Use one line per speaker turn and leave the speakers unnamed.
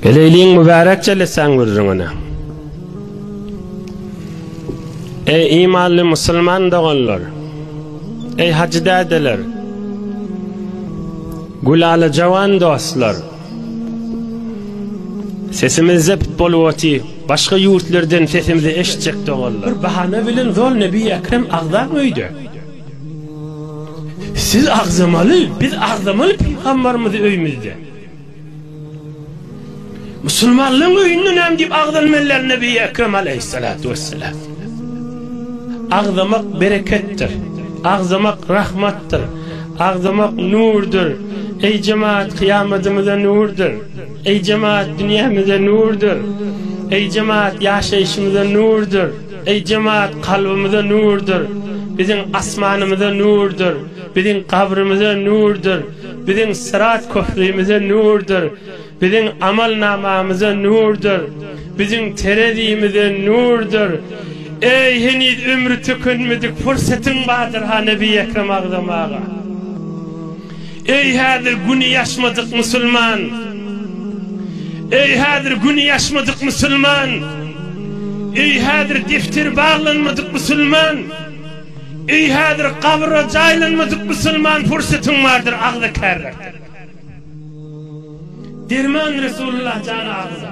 Eleýliň mübärek jelesäň gürrüňine. Eý imanly musulman doganlar. Eý hajy dädeler. Gülala jawan dostlar. Sesimiz zept bolup oty. Başga ýurtlardan sesimizi eşitjek doganlar. Bir bahana bilen zol Nebi Ekrem agzak öýde. Siz agzamaly, biz agzamaly pygambarymyzy öýümizde. Musulmanlaryň öýünde näme diýip agzalmalylar Nebi Ekrem aleýhissalatu wessalam? Agzamak bereketdir. Agzamak rahmatdyr. Agzamak nurdyr. Eý jemaat kyýamadyňyza nurdyr. Eý jemaat dünýämize nurdyr. Eý jemaat ýaşaýşymyza nurdyr. Eý jemaat kalbymyza nurdyr. Biziň asmanymyza nurdyr. Biziň gabrymyza nurdyr. Biziň syrat köprümize nurdyr, biziň amalnamamyza nurdyr, biziň terezimize nurdyr. Eý, heniz ömri tükenmedik pursatyň bardyr-ha Nebi Ekrem Agzam aga. Eý, häzir güni ýaşmadyk musulman! Eý, häzir güni ýaşmadyk musulman! Eý, häzir defteri baglanmadyk musulman! Eý häzir gabra jaýlanmadyk musulman pursatyň bardyr agza kärräk derman Resulullah jana agza.